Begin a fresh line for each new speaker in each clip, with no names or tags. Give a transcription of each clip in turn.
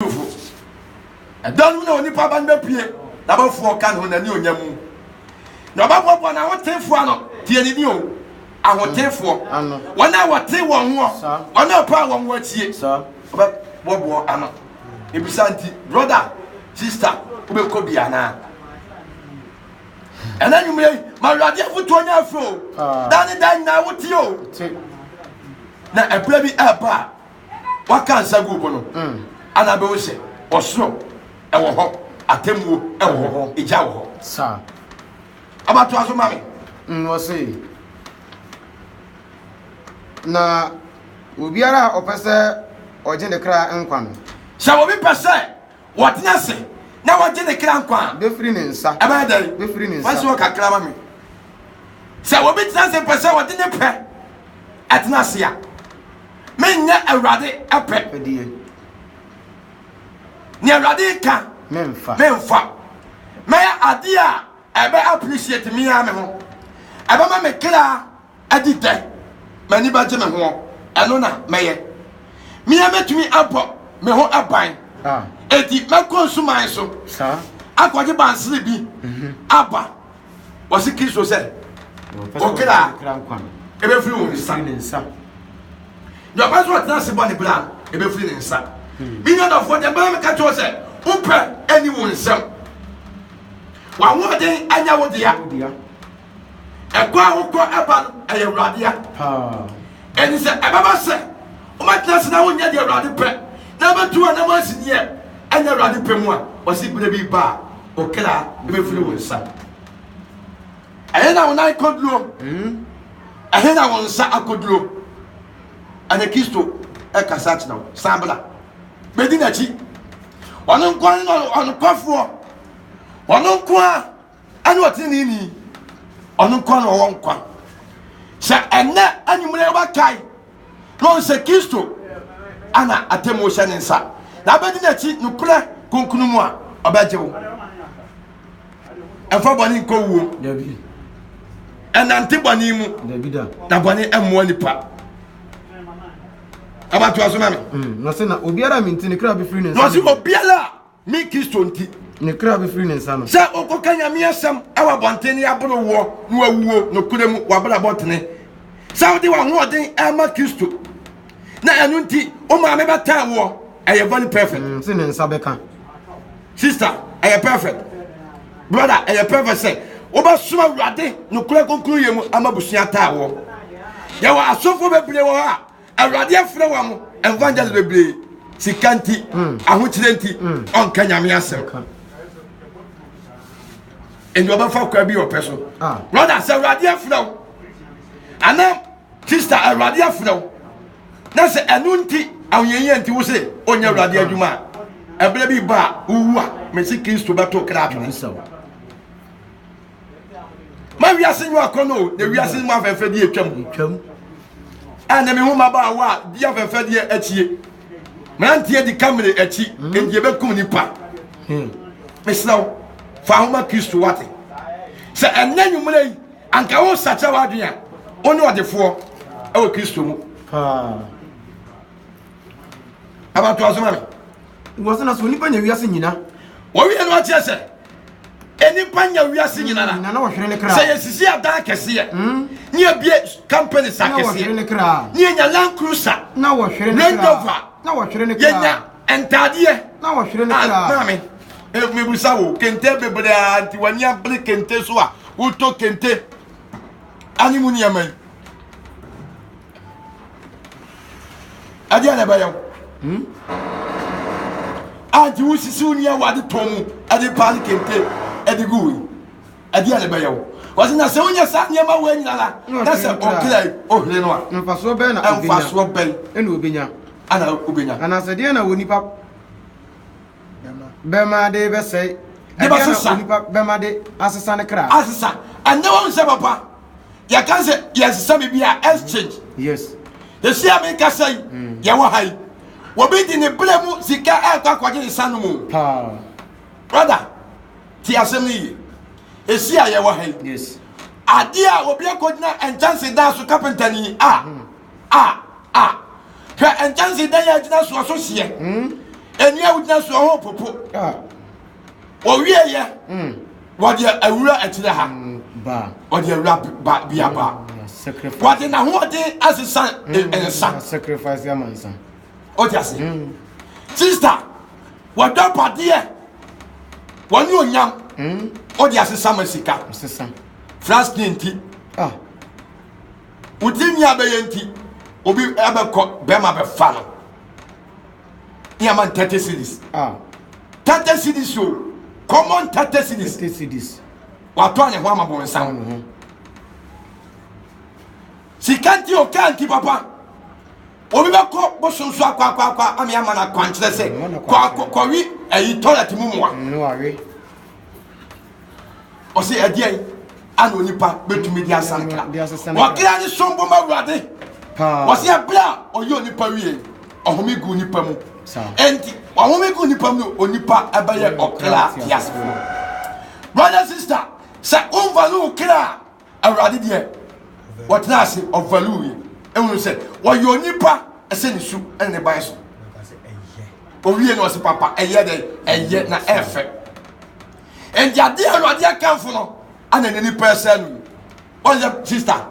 Kristofo. Ɛda no mu na onipa ba no bɛpue n'abɔfoɔ ɔka ne ho n'ani onya mu na ɔbɛboaboa n'ahotefoɔ ano tie ne din o ahotefoɔ wɔn a wɔte wɔn ho wɔn a ɔpaa wɔn ho atie ɔbɛboaboa ano ebisa nti broda sista wobɛkɔ bi anaa ɛna nwummerɛ yi ma awurade afotuo nya afiri o da ne da nyinaa wotie o na ɛberɛ bi ɛba a waka nsa gu bo no ana bɛhu sɛ ɔsoro ɛwɔ hɔ atemmuo ɛwɔ hɔ egya wɔ hɔ saa abatoa so ma me nwɔse na obiara a ɔpɛ sɛ ɔgye ne kra nkwa no sɛ obi pɛ sɛ Wɔtena ase na wɔgye ne kra nkwa a. Bɛfiri ne nsa. Ɛbɛyɛ dɛn? Bɛfiri ne nsa. Wɔasi wɔ kakra ma me. Sɛ obi tena ase pɛ sɛ ɔde ne pɛ ɛtena ase a, menyɛ Awurade ɛpɛ. Ɛdeɛ. Ne Awurade ka. Memfa. Memfa. Mɛyɛ adeɛ a ɛbɛ appreciate me ara me ho. Ɛbɛma me kra. Ɛde dɛn? M'ani bɛgye me ho, ɛno na mɛyɛ. Me ara mɛtumi abɔ me ho ban. Enti mɛkɔ nsuman so akɔgye bansere bi mhm. aba. Wɔse Kristo sɛ, ɔkra ɛbɛfiri wo nsa. Deɛ ɔpɛ sɛ ɔtena ase bɔ ne bra ɛbɛfiri ne nsa. Hmm. Me nuadɔfoɔ deɛ bɛma meka kyerɛ sɛ, wopɛ ɛni wo nsam. W'ahoɔden anya wo dea. Ɛkɔ a wokɔ ɛba no, ɛyɛ Awurade ya. Ɛnti sɛ ɛbɛba sɛ wobɛtena se na wonyɛ deɛ Awurade pɛ na wobɛtu w'anam asi deɛ ɛnyɛ Awurade pɛ mu a, wɔse berɛ bi ba a wo kra bɛfiri wo nsa. Ɛhe na wo nan kɔduro? Ɛhe na wo nsa akɔduro? Ɛnɛ Kristo ɛkasa akyerɛ wo, san bra bɛdi n'akyi. Ɔno nko ara ne ɔnokwafoɔ, ɔno nko ara ɛne ɔteneneeni ɔno nko na ɔwɔ nkwa sɛ ɛnɛ anwummerɛ wobɛkae na ɔhu sɛ kristo ana atemmuo hyɛ ne nsa na abɛdi n'akyi nokorɛ kronkron mu a ɔbɛgye wo ɛmfa bɔne nkɔ wuo ɛnante bɔne mu na bɔne mmoa nipa abatoa so ma me mm, na ɔse obiara a menti ne kra bɛfiri ne nsa na ɔse obiara Me Kristo nti. Ne kra bɛfiri ne nsa no. Sɛ wokɔka Nyame asɛm wɔ abɔnten ne aboro woɔ na wawuo nokorɛ mu wabrabɔ tene. Sɛ wode wahoɔden ma Kristo na ɛno nti wo maame bɛtaa woɔ ɛyɛ very perfect. Mm, se ne nsa bɛka. Sister ɛyɛ perfect. Brother ɛyɛ perfect sɛ wobɛsom awurade nokorɛ konkronyɛ mu ama busua taa woɔ. Yɛwɔ asɔfoɔ bebree wɔ hɔ a Awurade afrɛ wɔn evangelist bebree sika nti mm. ahokyerɛ nti mm. ɔnka nyame asɛm ɛnti ɔbɛfa kwa bi ɔpɛ so ah. brother sɛ awurade afrɛ wo anaa sister awurade afrɛ wo na sɛ ɛno nti ahoyɛyɛ nti wo se ɔnyɛ awurade mm. adwuma a ɛberɛ bi ba a wowu a mese kristo bɛto kra atwene ma wiase nyo akɔ no na wiase mu afɛnfɛdeɛ atwam twam ɛna mehu mmabaawa a di afɛnfɛdeɛ akyie mmeranteɛ di kamere akyi hmm. ɛnti ɛbɛkum nipa hmm. mesrɛ wo fa homa kristo wate sɛ ɛnɛ nwummerɛ yi anka wo sakyɛ w'adwene a wo ne ɔdefoɔ ɛwɔ kristo mu abatoa so ma me wɔ sena sɛ onipa nya wiase nyina wɔwie no akyerɛ sɛ nnipa nya wiase nyina na na wɔhwere ne kra sɛ yɛsisi adan kɛseɛ mm. ne yɛbie company sa kɛseɛ ne yɛnya land cruiser na wɔhwere ne kra rover na wɔhwere ne kra yɛnya ntaadeɛ na wɔhwere ne ah, kra maame eh, mebusa wo kente bebree a nti w'ani abere kente so a wotɔ kente ane mu nneɛma yi ɛdeɛ na ɛbɛyɛ wo hmm? a nti wosisi wo nua wade tɔn mu ɛde paa ne kente ɛde gu wei ɛdeɛ na ɛbɛyɛ wo wɔsi na sɛ wonyɛ saa nneɛma wei nyina la na sɛ ɔkra yi ɔhene no a mfasoɔ bɛn na ɔbɛnya mfasoɔ bɛn ɛna ɔbɛnya ana ɔbɛnya anaasɛ deɛ na wɔ nipa Bɛma ade bɛsɛe. De bɛsesa. Ɛdeɛ na onipa bɛma de asesa ne kra. Asesa. Ɛnɛ wɔn sɛ papa. Yɛka sɛ yɛsesa biribi a exchange. Yes. Ɛsi a meka sɛ yi, mm. yɛwɔ ha yi. Wɔbi de ne berɛ mu sika ɛkɔ akɔgye ne sa no mu. Paa. Brother, ti asɛm no yie. Ɛsi a yɛwɔ ha yi. Yes. Adeɛ a obi akɔgyina nkyɛnse daa so kapentani a. Mm. A a Hwɛ nkyɛnse dɛn a gyina soɔ so seɛ ɛni a wogyina soɔ ho popo wɔwie yɛ wɔde awura akyire ha wɔde
awura
ba bia ba wɔde
n'ahoɔden
asesa nsa
wɔde ase
sista wɔdɔ padeɛ wɔne onyam wɔde asesa ma sika
flask
nti ah wo tirinwi abɛyɛ nti obi ɛbɛkɔ bɛrima bɛfa no ne ama no thirty cities ah. thirty cities o common thirty cities thirty cities watɔ ne ho ama bɔn nsa ho sika nti o kaa nti papa obi bɛkɔ bosom so akɔ akɔ akɔ ama ama no akwankyerɛ sɛ kɔ akɔ kɔwi ɛyi tɔlɛt mu mua. ɔse ɛdeɛn ana onipa bɛtumi de asa kra ɔkra ne som boma awurade ɔse ɛberɛ a ɔyɛ onipa wie ɔhome gu nipa mu ɛnti ɔhome gu nipa mu no onipa ɛbɛyɛ ɔkra teasefoɔ brother sister sɛ womfa no wo kra Awurade deɛ ɔtena ase ɔvalue yɛ ehunu sɛ wɔyɛ onipa ɛsɛ ne su ɛne ne ban so owie na ɔsi papa ɛyɛ dɛ ɛyɛ na ɛfɛ ɛdi adeɛ awurade akanfo no ɛna ne nipa ɛsɛ no ɔyɛ sista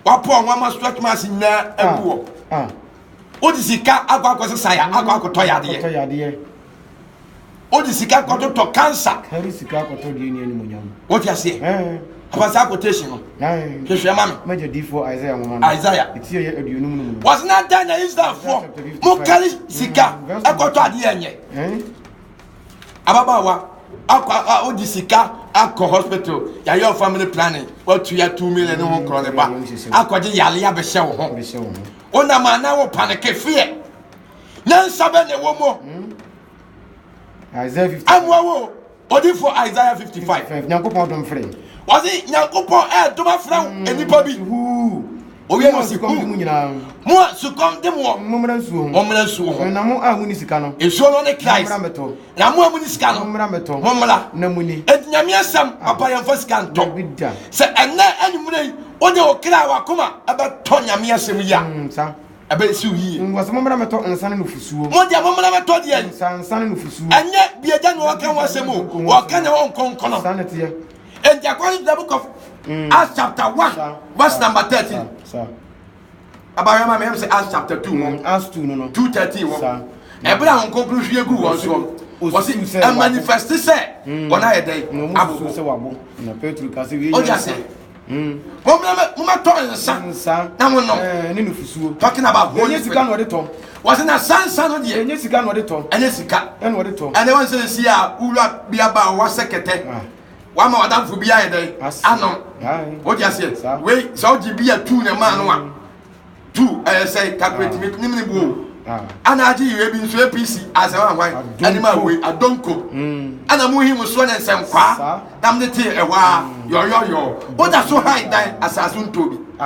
wapɔ ɔnwa ma stretch marks nyinaa ɛbuɔ. wode sika akɔ akɔsesa ya akɔ akɔtɔ yadeɛ wode sika kɔtotɔ kansa
wote aseɛ
abasa akɔtation no hwehwɛ ma me
isaia wɔse na dɛn na
israelfoɔ mokare sika ɛkɔtɔ adeɛ nyɛ ababaawa akɔ wode sika akɔ hospital yɛayɛ wo family planning watu ya two million ne ho nkorɔ ne ba akɔgye yale abɛhyɛ wo ho wonam a na wopaneke feɛ nyansa bɛ na ɛwɔ mu hmm?
amoa wo
ɔdifo isaiah 55 nyankopɔn dom frɛ
wɔse nyankopɔn
ɛdom afrɛ wo hmm. nnipa bi owie no si kum mu nyinaa mo
a sukɔm
de mo wɔ mommra nsuo ho mommra
nsuo ho na mo a monni sika no
nsuo
no ne christ
na mo a mo ni sika no mommra mɛtɔ mommra na mo ni enti
nyame asɛm ah.
papa yɛn fa sika ntɔ sɛ ɛnɛ anwummerɛ yi wode wo kra a wakoma ɛbɛtɔ nyame asɛm yi a mm, ɛbɛyɛ siw yie wɔsɛ mommra mɛtɔ nsa
ne nufusuo mo deɛ mommra mɛtɔ
deɛ nsa ne nufusuo
ɛnyɛ biagya na
wɔka ho asɛm o wɔka ne hɔ nkɔnkɔnɔ saa ne teɛ
enti akɔhwɛ the
book of mm. Acts chapter 1 verse number 13 ɛba yɛ ma meyɛ sɛ acts chapter two no acts two no no two
thirteen wɔ
ɛbɛrɛ a wɔn kɔnkɔn hwie gu wɔn soɔ wɔsi ɛmanifɛsti sɛ wɔn ayɛ dɛn abobo
ɔdi ase wɔn
mɛ wɔn mɛ tɔ nsa na wɔn nom ne nufusuo
talking about wɔn nye sika
na wɔde tɔ
wɔsi na sansan
no deɛ ɛnyɛ sika na wɔde tɔ ɛnyɛ
sika ɛna wɔde
tɔ ɛna wɔn sɛ
nsia
wura biaba wɔasɛ kɛtɛ. wama wadamfo bi ayɛ dɛn anom wode aseɛ wei sɛ wogye bi a tu ne maa no a mm. tu ɛyɛ sɛ calculate me nyim ne buo ana agye yɛ bi nso apc asɛm ahwan anim a wei adonko ana mu hi mu soɔ ne nsɛm kwaa nam ne tee ɛhɔ a yɔyɔyɔ woda so han dan asase ntɔ bi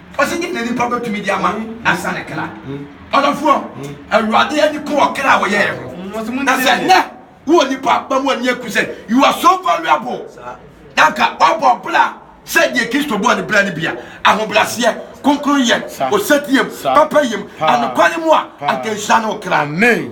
Ɔsi nyim na nipa betumi de ama nansa ne kra. Ɔdɔfoɔ, Awurade ani ko wɔ kra a wɔyɛɛ ho. Na sɛ nnɛ wowɔ nipa ba mu ani aku sɛ you are so valuable na anka wabɔ bra sɛ deɛ Kristo bɔɔ ne bra no bi a, ahobraseɛ, kronkronyɛ, osetiem, papayɛm, anokware mu a, anka nhyira ne wo kra. Amen.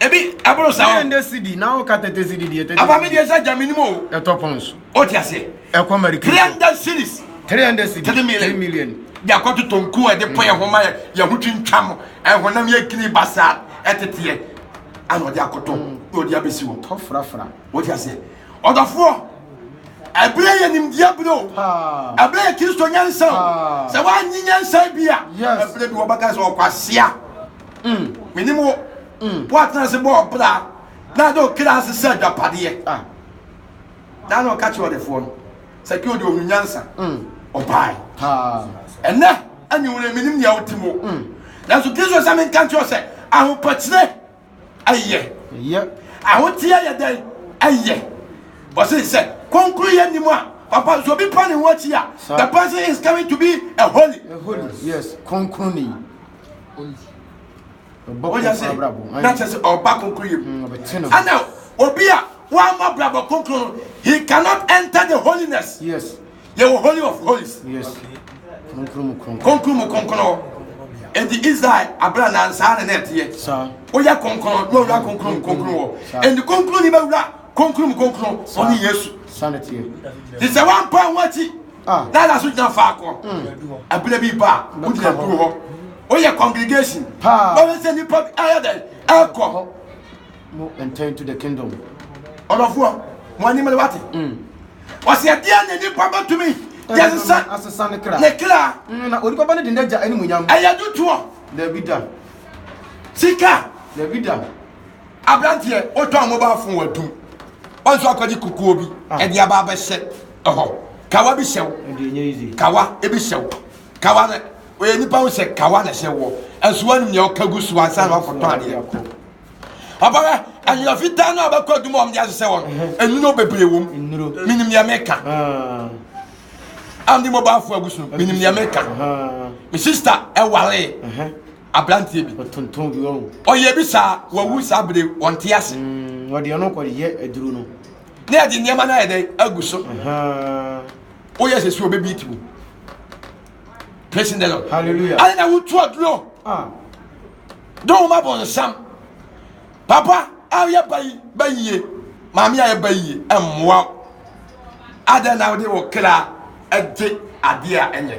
ebi ɛboro saa o. yɛn de sidi na wo ka
tete sidi deɛ tete. afa mi deɛ sɛ gya mi ni mu o.
ɛtɔ pɔn so.
o ti ase.
ɛkɔ mɛrikɛ. three
hundred series.
three hundred series. three
million. three million.
de akɔto tonku a ɛde pɔ yɛn ho ma yɛ yɛn ho twintwam ɛhonam yɛ kini basaa ɛteteɛ ana ɔde akɔtɔ mm. na ɔde abɛsi hɔ. tɔ furafura. o ti
ase.
ɔdɔfoɔ ɛbɛrɛ yɛ nimdeɛ bere o ɛbɛrɛ yɛ kristo nyansa o sɛ wɔanyi nyansa bi a ɛbɛrɛ bi wɔbɛka sɛ ɔkwasia. Mm, menim wo. Mm. Woatena ase bɔ ɔbra na de ɔkra ase sɛ agyapadeɛ. Ah. Daa na ɔka kyerɛ ɔdefoɔ no sɛ kɛ ɔde ɔhu nyansa. Mm. Ɔbae. Ɛnɛ anwumerɛ menim nea wote mu. Mm. Nanso Kristo sɛ menka nkyerɛ sɛ ahopɛkyerɛ ɛyɛ. Ɛyɛ. Ahoteɛ yɛ dɛn ɛyɛ. Ɔse sɛ kɔnkuru yɛ nim a papa so obi pa ne ho akyi a the person is coming to be a holy. A holy, yes,
kɔnkuru ni.
ɔbɛyɛ sɛ na kyerɛ sɛ ɔba kronkron yɛ mu mm, ana obi a wɔama brabɔ kronkron no he cannot enter the holiness yes yɛwɔ
holy of holies yes kronkron mu
kronkron nti israel abira na nsaa na n'ɛteɛ woyɛ kronkron
na owura
kronkron mu kronkron wɔ nti kronkron ni bɛwura kronkron mu kronkron ɔne yesu ti
sɛ wɔn
mpa wɔn akyi Ah. Lala so gyina faako. Abirɛ hmm. bi ba a, wo gyina duro hɔ. Woyɛ congregation. Paa. Wɔn sɛ nipa bi ayɛ dɛ ɛkɔ. Mo
ntɛn to the kingdom. Ɔdɔfoɔ,
mo anim le wate. Hmm. Ɔsɛ ɛdeɛ na nipa bɛtumi yɛ sisa asesa ne kra. Ne
kra. Hmm, na onipa
ba ne de ne
gya ɛne mu nyam. Ɛyɛ dutoɔ.
Dabi da.
Sika.
Dabi da.
Aberanteɛ,
wotɔn mobile phone wɔ adum. Wɔn nso akɔgye kukuo bi ɛde aba abɛhyɛ ɛhɔ. Kawa bi hyɛ wo. Kawa ebi hyɛ wo. Kawa no oyɛ nipa ho hyɛ kawa na ɛhyɛ wɔ. Ɛnso wɔn nyɛ ɔka gu so ansa na wakɔtɔn adeɛ. Papa bɛ ɛyɛ fitaa no a bɛkɔ adum a wɔn de ahyehyɛ wɔn. Enuro bebree wɔm. Minim deɛ meka. Andi mobile phone agu so. Minim deɛ meka. Me sister ɛware. aberanteɛ bi ɔtontɔn bi wɔn ɔyɛ bi saa wawu saa bere wɔn te ase mm, wɔde ɔno kɔ
yɛ aduro no ne yɛde nneɛma
no ayɛ dɛ agu so woyɛ sɛ suo bɛbi ti mu praising the lord hallelujah ade na wotu
aduro
ah. dɔn wɔn abɔ nsam papa a yɛ bayi bayie maame a yɛ bayie mmoa adɛn na wode wɔ kra ɛgye adeɛ a ɛnyɛ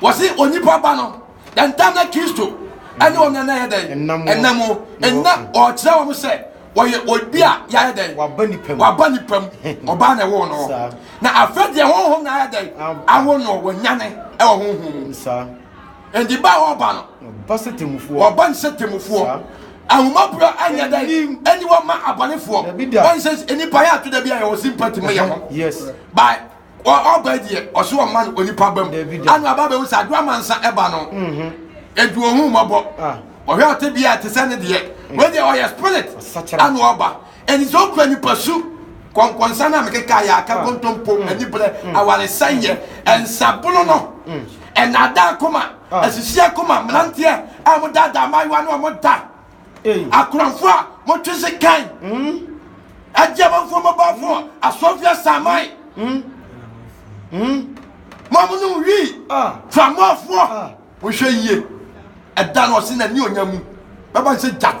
wɔse onipa ba no yɛntam na kristo ɛne wɔn nana yɛ dɛn ɛnam mu ɛna ɔkyerɛ wɔn sɛ wɔyɛ obi a yɛayɛ dɛn waba nipa mu waba nipa mu ɔbaa na ɛwɔ no na afɛ deɛ honhom na ayɛ dɛn awo no wɔnyane ɛwɔ honhom mu ɛnti ba a wɔba no ɔba sɛ temufoɔ ɔba ne sɛ temufoɔ ahomaborɔ anyɛ dɛn ɛni wɔma abɔnefoɔ ɔnsɛ nipa yɛ ato da bi a yɛwɔ sympathy ma yɛ ho
by
ɔba yi deɛ ɔse ɔma no onipa ba mu ana ɔba bɛhu sɛ adoamansa ɛba no mhm. ɛnti ɔhu mmɔbɔ ah. ɔhwɛ ɔte bia ɛte sɛ ne deɛ wei deɛ ɔyɛ spirit ana ɔba ɛnti sɛ ɔkura nipa su kɔnkɔnsa no a mekeka yɛ aka ah. kontompo mm. aniberɛ mm. awaresɛyɛ mm. nsabono no ɛnada akoma asisi akoma mmeranteɛ a wɔdaadaa mmaayewa no a wɔda Akoranfo a wɔtwe sekan, agye amanfo mmabɔfo, asɔfo asaman, mo a monom wii, framɔfoɔ, monhwɛ yie, ɛda no ɔse n'ani onya mu bɛba sɛ gyata.